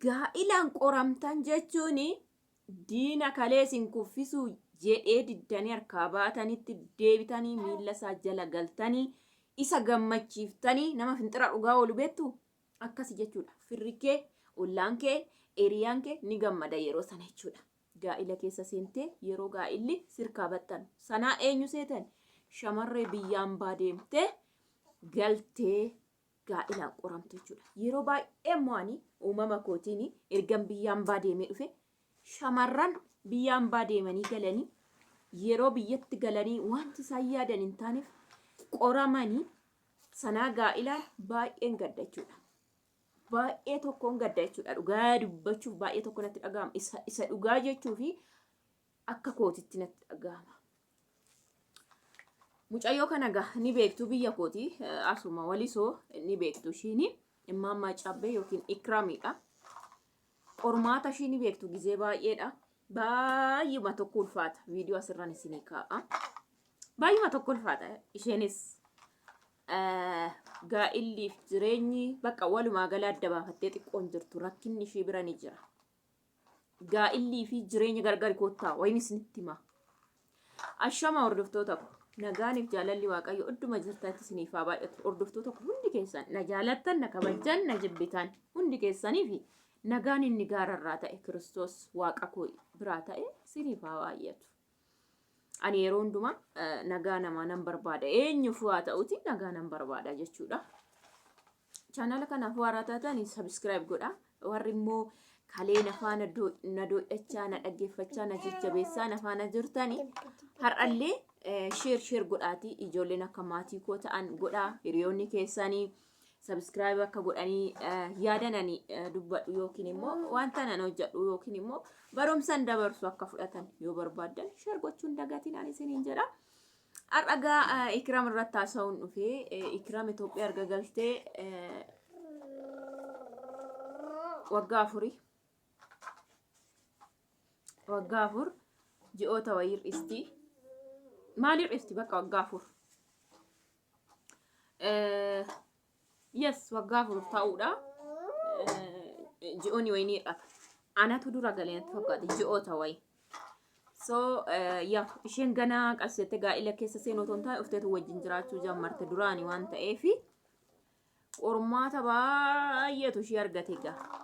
Gaa'ilaan qoramtan jechuun diina kalee isin kuffisuu jedhee diddanii harkaa baatanitti deebitanii miilla isaa jala galtanii isa gammachiiftanii nama finxira dhugaa oolu beektu akkasi jechuudha. Firri kee, ollaan kee, eriyaan kee ni gammada yeroo sana jechuudha. Gaa'ila keessa seentee yeroo gaa'illi sirkaa baxxanu sanaa eenyu seetan shamarree biyyaan baa deemtee galtee gaa'elaan qoramtu jechuudha. Yeroo baay'ee immoo ani uumama kootiin ergan biyya ambaa deemee dhufe shamarran biyya ambaa deemanii galanii yeroo biyyatti galanii wanti isaan yaadan hin taaneef qoramanii sanaa gaa'elaan baay'een gadda jechuudha. Baay'ee tokkoon gadda jechuudha. Dhugaa dubbachuuf baay'ee tokko natti dhaga'ama. Isa, isa dhugaa jechuu fi akka kootitti natti dhaga'ama. Mucayyoo kana ga ni beektu biyya kooti asuma walisoo ni beektu ishiin immaan maacaabbee yookiin ikraamiidha. Qormaata ishii ni beektu gizee baay'eedha. Baay'uma tokko ulfaata viidiyoo asirraan isinii kaa'a. Baay'uma tokko ulfaata isheenis gaa'illiif jireenyi bakka walumaa gala adda baafattee xiqqoon jirtu rakkinni ishii bira ni jira. gaa'illii fi jireenya gargari koottaa wayin isinitti himaa. Ashama hordoftoota ko nagaaniif jaalalli waaqayyo idduma jirtanitti isiniif haa baay'atu hordoftoota ko hundi keessan na jaalattan na kabajjan na jibbitan hundi keessaniif nagaan inni gaararraa ta'e kiristoos waaqa koo biraa ta'e isiniif haa baay'atu. Ani yeroo hundumaa eh, nagaa namaa nan barbaada. Eenyuuf waa ta'uti nagaa nan barbaada jechuudha. Chaanala kanaaf waaraa taatan sabiskiraayib godha. Warri immoo kalee na faana do- na doodhachaa, na dhaggeeffachaa, na jajjabeessaa, na faana jirtani. Har'allee eh, sheer sheer godhaatii ijoolleen akka maatii koo ta'an godhaa. Hiriyoonni keessanii subscribe akka godhanii yaadan ani dubbadhu yookiin immoo wanta nan hojjedhu yookiin immoo barumsan dabarsu akka fudhatan yoo barbaadan share gochuun dagatiin ani isiniin jedha. Har'agaa Ikiraam irratti haasa'uun dhufee Ikiraam Itoophiyaa erga galtee waggaa afurii waggaa afur ji'oota wayii hir'isti. Maal hir'isti bakka waggaa afur? Eh, yes waggaa afur ta'uudha Eh, ji'oonni wayii ni hir'ata anatu dura galee natti fakkaate ji'oota wayii so eh, ya isheen gana qabsiifattee gaa'ila keessa seenuu otoo hin taane ufteetu wajjin jiraachuu jammarte duraani waan ta'eefi qormaata baay'eetu ishee argate gaa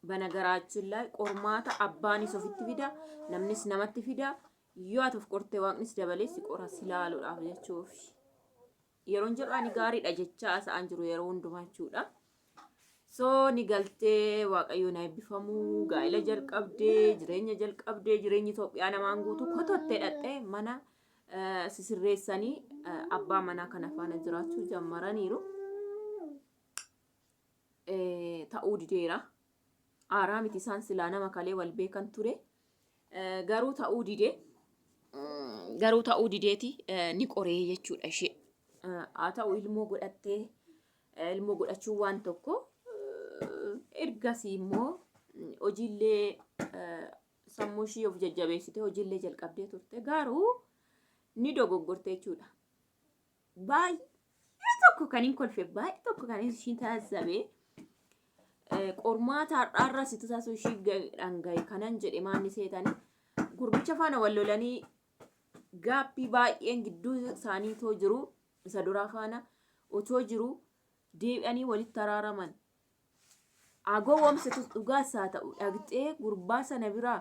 Banagaraachin laay qormaata abbaanis ofitti fida, namnis namatti fida. Yoo ati of qorte waaqnis dabalee si qora si laaluudhaaf jechuuf. Yeroon jedhu ani gaariidha jechaa asa'aan jiru yeroo hundumaa jechuudha. So ni galtee waaqayyoon eebbifamu gaa'ila jalqabdee jireenya jalqabdee jireenyi Itoophiyaa namaan guutuu kotottee dhaqxee mana eh, sisirreessanii eh, abbaa manaa kana faana jiraachuu jammaraniiru. ta'uu dideera. Aaraa miti isaan silaa nama kalee wal beekan ture. Garuu ta'uu didee garuu ta'uu dideeti ni qoree jechuudha ishee. Haa ta'u ilmoo godhattee ilmoo godhachuu waan tokko ergasii immoo hojiillee sammuu ishii of jajjabeessitee hojiillee jalqabdee turte garuu ni dogoggorte jechuudha. baay'ee tokko kan hin kolfe baay'ee tokko kan ishii taasisabe qormaata har'aarraa situ taasisuu ishii dhangaye kanan jedhe maanni seetanii gurbicha faana wal lolanii gaappii baay'een gidduu isaanii too jiru isa duraa faana otoo jiru deebi'anii walitti araaraman. Agoo wamsitus dhugaas haa ta'u dhaqxee gurbaa sana biraa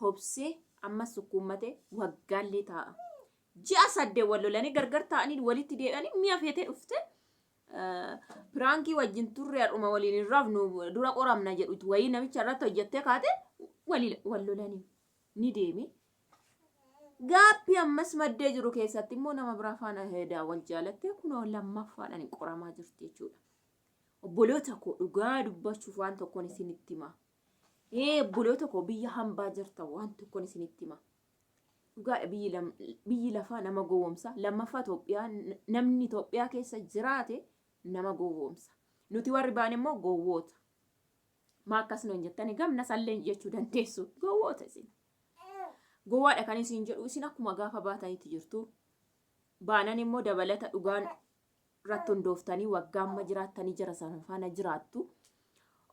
hobsee ammas sukkuummatee waggaallee taa'a. Ji'a sadde wal lolanii gargar taa'anii walitti deebi'anii mi'a feetee dhufte piraankii wajjin turre har'uma waliin hin rafnu dura qoramna jedhutu wayii namicha irratti hojjettee kaate wali- wal lolanii ni deeme. Gaappii ammas maddee jiru keessatti immoo nama biraa faana heedaa wal jaalattee kunoo lammaffaadhaan qoramaa jirti jechuudha. Obboloota koo dhugaa dubbachuuf waan tokkoon isinitti himaa. Ee obboloota koo biyya hambaa jirtan waan tokkon isinitti hima. Dhugaadha biyyi, lam, biyyi lafaa nama gowwoomsa. Lammaffaa Itoophiyaa n- namni Itoophiyaa keessa jiraate nama gowwoomsa. Nuti warri baane immoo gowwoota. Maa akkas nuun jettani gamna salleen jechuu dandeessu. Gowwoota isin. Gowwaadha kan isin jedhu isin akkuma gaafa baatanitti jirtu. Baanan immoo dabalata dhugaan irratti hundooftanii waggaa amma jiraattanii jara sana faana jiraattu.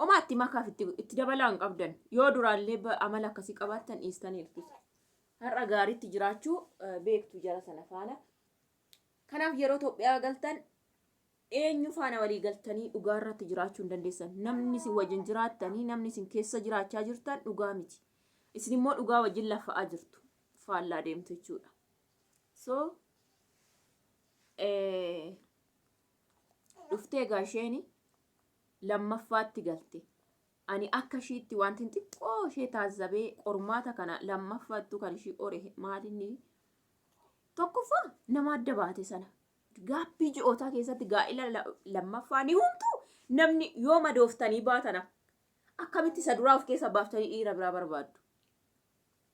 Omaa itti makaaf itti, itti dabalaa hin qabdan. Yoo duraallee ba- amala akkasii qabaattan dhiistanii hirkisu. Har'a gaariitti jiraachuu eh, beektu jara sana faana. Kanaaf yeroo Itoophiyaa galtan eenyu faana walii galtanii dhugaa irratti jiraachuu hin dandeessan. Namni isin wajjin jiraattanii, namni isin keessa jiraachaa jirtan dhugaa miti. Isin immoo dhugaa wajjin lafa'aa jirtu. Faallaa deemtu jechuudha. so dhuftee egaa isheen lammaffaatti galte ani akka ishiitti wanti xiqqoo ishee taazzabee qormaata kana lammaffaattu kan ishii qore maalinni tokkoffaa nama adda baate sana gaabbii ji'ootaa keessatti gaa'ila lammaffaa ni humtu namni yoo madooftanii baatana akkamitti isa duraa of keessa baaftanii dhiira biraa barbaaddu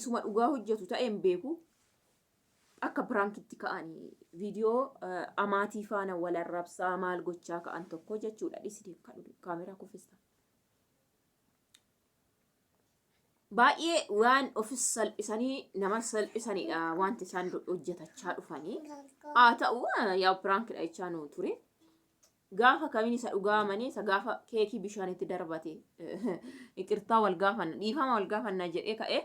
isuma dhugaa hojjatu ta'e hin beeku akka piraankitti ka'ani viidiyoo amaatii faana wal arrabsaa maal gochaa ka'an tokko jechuudha dhisite kaameraa kuffista. Baay'ee waan ofis salphisanii nama salphisanidha wanti isaan hojjetachaa dhufanii haa ta'u yaa piraankidha jechaa nuu ture. Gaafa kamin isa dhugaa mane isa gaafa keekii bishaan itti darbate iqirtaa wal gaafanna dhiifama wal gaafanna jedhee ka'e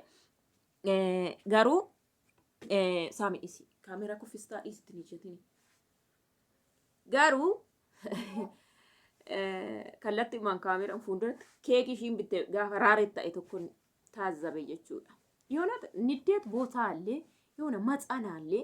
garuu saami dhisi kaamera kuffistaa dhisi itti nijetin garuu kallatti umaan kaameran fuulduratti keekii ishiin bitte gaafa raareet ta'e tokko taazzabe jechuudha. Yoonat niddeet bootaallee yoona matsanaallee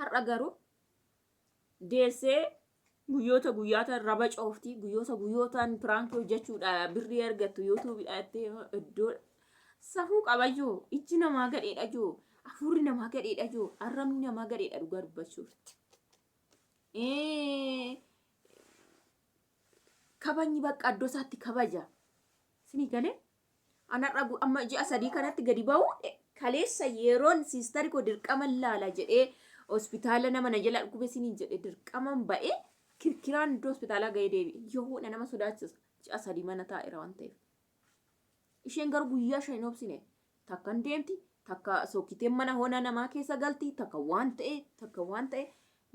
Har'a garuu deessee guyyoota guyyaataan raba coofti guyyoota guyyootaan piraankii hojjechuudha birrii argattu yuutuubidha itti iddoo safuu qabayyuu ijji namaa gadheedha jiru afuurri namaa gadheedha jiru arrabni namaa gadheedha dhugaa dubbachuuf. Kabajni bakka iddoo isaatti kabaja. Isinii galee An har'a gu- amma ji'a sadii kanatti gadi ba'uu dhe- kaleessa yeroon siistari koo dirqaman laala jedhee hospitaala nama na jala dhukube siniin jedhe dirqaman ba'ee kirkiraan iddoo hospitaalaa ga'ee deebi'e. Yohuudha nama sodaachisa. Ji'a sadii mana taa'eera waan ta'eef. Isheen garuu guyyaa shan hin obsine. Takka hin deemti, takka sokkiteen mana hona namaa keessa galti, takka waan ta'e, takka waan ta'e.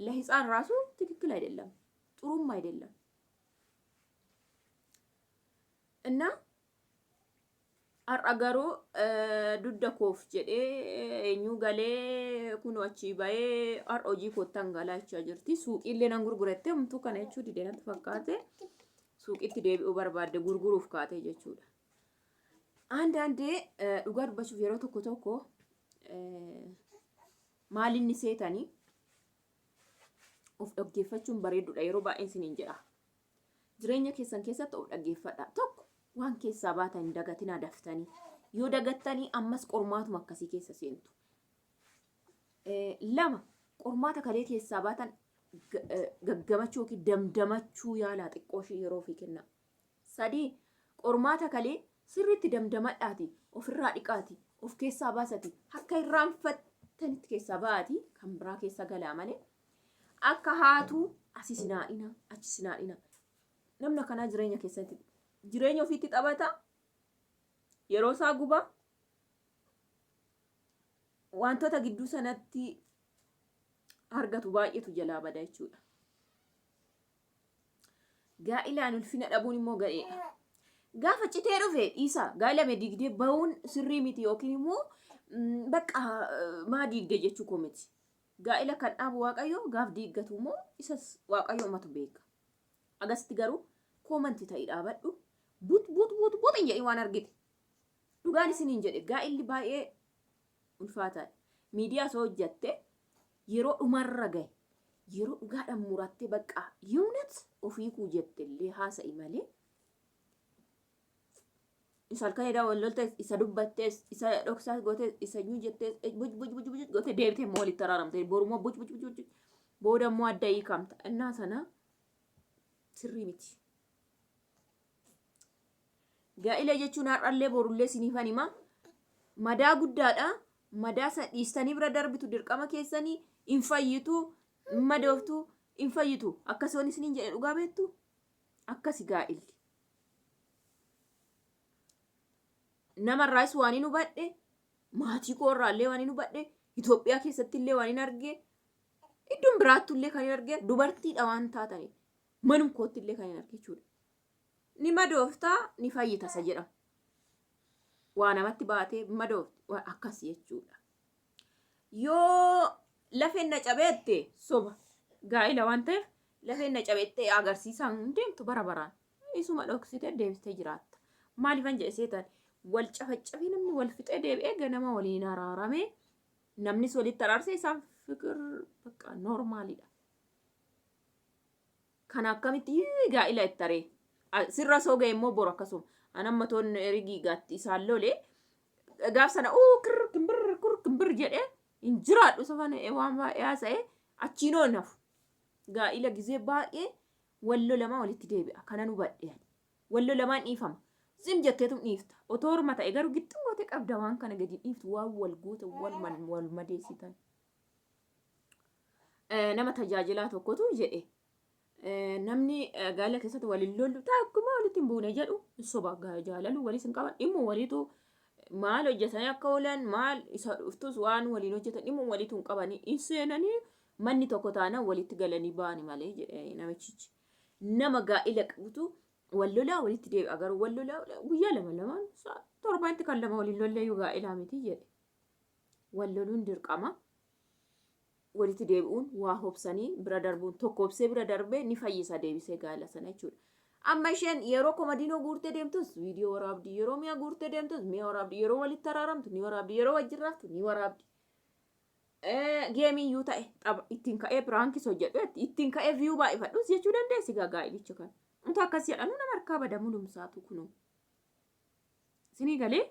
Lahitsaan raasuu tikikkil ayidallam. Xurumma ayidallam. Inna har'a garuu dudda koof jedhee eenyuu galee kun achii bahee har'a hojii koottan galaa jechaa jirti. Suuqiillee nan gurguratte homtuu kana jechuu dide natti fakkaate. Suuqiitti deebi'uu barbaadde gurguruuf kaatee jechuudha. አንዳንዴ dhugaa dubbachuuf yeroo tokko tokko maalinni seetanii of dhaggeeffachuun bareedudha yeroo baay'een siniin jedha. Jireenya keessan keessatti of dhaggeeffadhaa. Tokko waan keessaa baatan hin dagatinaa daftanii. Yoo dagattanii ammas qormaatuma akkasii keessa seentu. Eh, Lama qormaata kalee keessaa baatan ga- eh, gaggamachuu yookiin damdamachuu yaalaa xiqqoo ishii yeroo ofii kennaa. Sadii qormaata kalee sirriitti damdamadhaati ofirraa dhiqaati of keessaa baasati akka irraanfattanitti keessaa ba'aati kan biraa keessa galaa malee Akka haatu asi sin haadhina achi sin haadhina namna kanaa jireenya keessatti jireenya ofiitti taphata yeroo isaa guba wantoota gidduu sanatti argatu baay'eetu jalaa bada jechuudha. Gaa'ilaan ulfina dhabuun immoo ga'eedha. Gaafa citee dhufe dhiisa gaa'ilame diigdee ba'uun sirrii miti yookiin immoo bakka maa diigde jechuu koo miti. Gaa'ila kan dhaabu waaqayyo gaaf diiggatu moo isas waaqayyo matu beeka. Agasitti garuu comment ta'i dhaabadhu but but but but hin jedhin waan argite. Dhugaan isiniin jedhe gaa'illi baay'ee ulfaataadha. Miidiyaa osoo hojjatte yeroo dhumarra gahe yeroo dhugaadhaan murattee baqqaa yoonet ofii kuu jettellee haasa'i malee Isa halkan irraa wal loltes, isa dubbattes, isa dhoksaas gootes, isa nyuu jettes, buj buj buj buj goote deebite immoo walitti araaramte. Boru immoo buj buj buj buj booda immoo adda hiikamta. Innaa sana sirrii miti. Gaa'ila jechuun har'allee borullee siniifan hima. Madaa guddaadha. Madaa sana dhiistanii bira darbitu dirqama keessanii hin fayyitu, hin madooftu, hin fayyitu. Akkasumas isiniin jedhe dhugaa beektu akkasi gaa'illi. namarraas waan hin hubadhe maatii koo irraallee waan hin hubadhe Itoophiyaa keessatti illee waan hin arge iddoon biraattu illee kan hin arge dubartiidha waan taataniif manum kootti illee kan hin arge jechuudha. Ni madooftaa ni fayyitasa jedhama. Waa namatti baatee madoofti waan akkas jechuudha. yoo lafeen na cabee jette soba gaa'ila waan ta'eef lafeen na cabee jette agarsiisaan hin deemtu bara baraan isuma dhoksitee deebistee jiraatta maaliifan jedhe seetan wal cafacafee namni wal fixee deebi'ee ganama waliin araaramee namnis walitti araarsee isaan fikir bakka noormaalidha. kana akkamitti hii gaa'ila ittaree A- sirra soo ga'e immoo boru akkasuma an amma toon erigii gaatti isaan lole gaaf sana uu kirr kimbir kur kimbir jedhee hin jiraadhu safan waan baay'ee haasa'ee achiin oon hafu gaa'ila gizee baay'ee wallo lamaa walitti deebi'a kanan hubadhe ani. wallo lamaan dhiifama zim jetteetum dhiifta otoo horma ta'e garuu gixxum gootee qabda waan kana gadi dhiiftu waan wal goota wal man- wal madeessitan Eh, nama tajaajilaa tokkotu jedhe eh, namni eh, gaa'ela keessatti waliin lollu takkuma walitti hin buune jedhu hin soba Ga- jaalalu waliis hin qaban dhimmu waliitu maal hojjetanii akka oolan maal isa dhuftus waan waliin hojjetan dhimmu waliitu hin qabanii hin seenanii manni tokko taanaan walitti galanii ba'ani malee jedhe namichichi nama gaa'ela qabutu wal lolaa walitti deebi'a garuu wal lolaa guyyaa lama lamaan sa'a torbaatti kan lama waliin lollee yoo gaa'elaa miti jedhe wal loluun dirqama. walitti deebi'uun waa hobsanii bira darbuun tokko obsee bira darbee ni fayyisa deebisee gaa'ela sana jechuudha. Amma isheen yeroo komadiinoo guurtee deemtus viidiyoo waraabdi, yeroo mi'a guurtee deemtus mi'a waraabdi, yeroo walitti araaramtu ni waraabdi, yeroo wajjin raftu ni waraabdi. Geemii iyyuu ta'e tapha ittiin ka'ee piraankis hojjedhu jetti, ittiin ka'ee viyuu baay'ifadhus jechuu dandeessi gaa gaa'ilicha kana. Utuu akkas jedhanuu nama harkaa bada mulumsaatu kunuu. Sinii galee?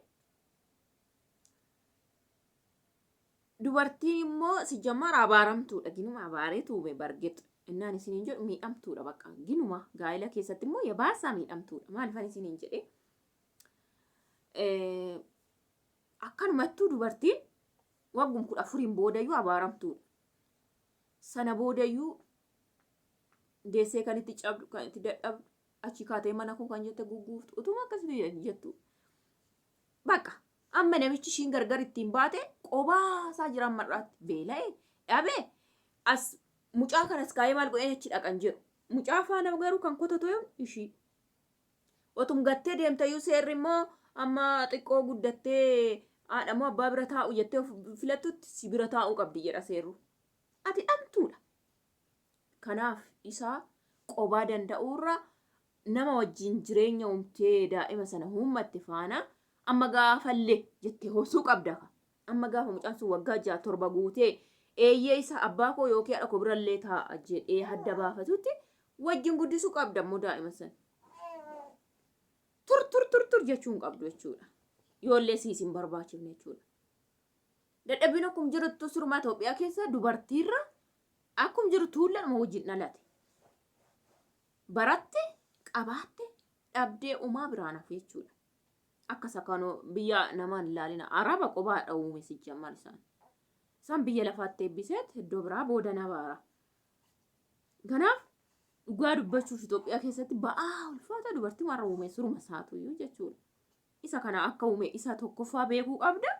Dubartiin immoo si jammara abaaramtuudha. Ginuma abaaree tuube bargex. Innaan isiniin jedhu miidhamtuudha bakka. Ginuma gaa'ila keessatti immoo yabaasaa miidhamtuudha. Maalifan isiniin jedhe? Akkanumattuu dubartiin waggum kudha afuriin boodayyuu abaaramtuudha. Sana boodayyuu deessee kan itti cabdu, kan itti dadhabdu, achi kaatee mana koo kan jette gugguuftu, utuma akkasitti jettu. Baqa. Amma namichi ishiin gargar ittiin baate qobaa isaa jira amma irraatti beela'e dhabe as mucaa kanas kaa'ee maal godheen achi dhaqan jedhu. Mucaa faana garuu kan kotatu yoom ishii. Otum gattee deemtayyuu seerri immoo amma xiqqoo guddattee haadha moo abbaa bira taa'u jettee of filattutti si bira taa'uu qabdi jedha seerru. Ati dhamtuudha. Kanaaf isaa qobaa danda'uurra nama wajjin jireenya uumtee daa'ima sana huummatte faana amma gaafalle jette horsuu qabda ka. Amma gaafa mucaan sun waggaa ja'a torba guutee eeyyee isa abbaa koo yookiin haadha koo birallee taa'a jedhee hadda baafatutti wajjin guddisuu qabda immoo daa'ima sana. Tur tur tur tur jechuu hin qabdu jechuudha. Yoollee siis hin barbaachifne jechuudha. Dadhabbiin akkuma jirtu surmaa Itoophiyaa keessa dubartiirra akkuma jiru tuullanuma wajjin dhalate. baratte qabaatte dhabdee umaa biraan hafe jechuudha. Akka sakanoo biyya namaan hin laalina araba qubaa dhawuume sijjamar isaan. Isaan biyya lafaatti eebbiseet iddoo biraa booda na baara. Kanaaf dhugaa dubbachuuf Itoophiyaa keessatti ba'aa ulfaata dubartii warra uume suruma isaatuyyuu jechuudha. Isa kana akka uume isa tokkoffaa beekuu qabda.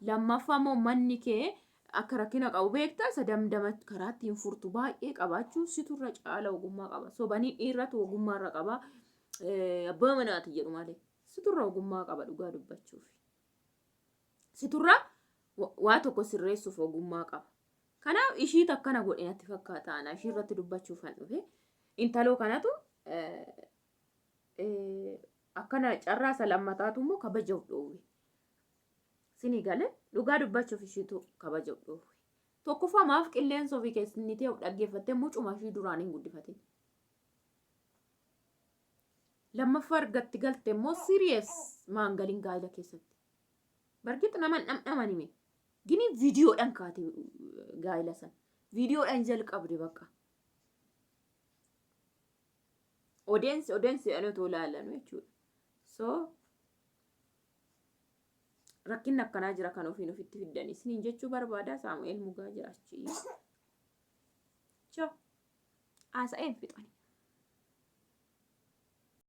Lammaffaa immoo manni kee akka rakkina qabu beekta. Isa damdama karaa ittiin furtu baay'ee qabaachuu situ irra caala ogummaa qaba. Sobanii dhiirratu ogummaa irra qaba. Eh, Abbaa manaati jedhu malee. Situ irra ogummaa qaba dhugaa dubbachuuf. Situ irra wa- waa tokko sirreessuuf ogummaa qaba. Kanaaf ishiitu akkana godhe natti fakkaata. Ana ishii irratti dubbachuuf kan dhufe. Intaloo kanatu eh, akkana carraa isa lammataatu immoo kabaja of dhoowwe. Sini gale dhugaa dubbachuuf ishiitu kabaja of dhoowwe. Tokkoffaa maaf qilleensa ofii keessatti of dhaggeeffattee mucuma ishii duraan hin guddifatin. Lammaffaa argatti galte immoo siriyees maangaliin gaa'ila keessatti. Bargit naman dhamdhaman hime. Gini viidiyoodhaan kaate gaa'ila sana. Viidiyoodhaan jalqabde bakka. Odeensi odeensi jedhanii otoo ilaalanu jechuudha. So rakkinni akkanaa jira kan ofiin ofitti fiddan isiniin jechuu barbaada Saamu'eel Mugaa jira achi. Choo haasa'een fixani.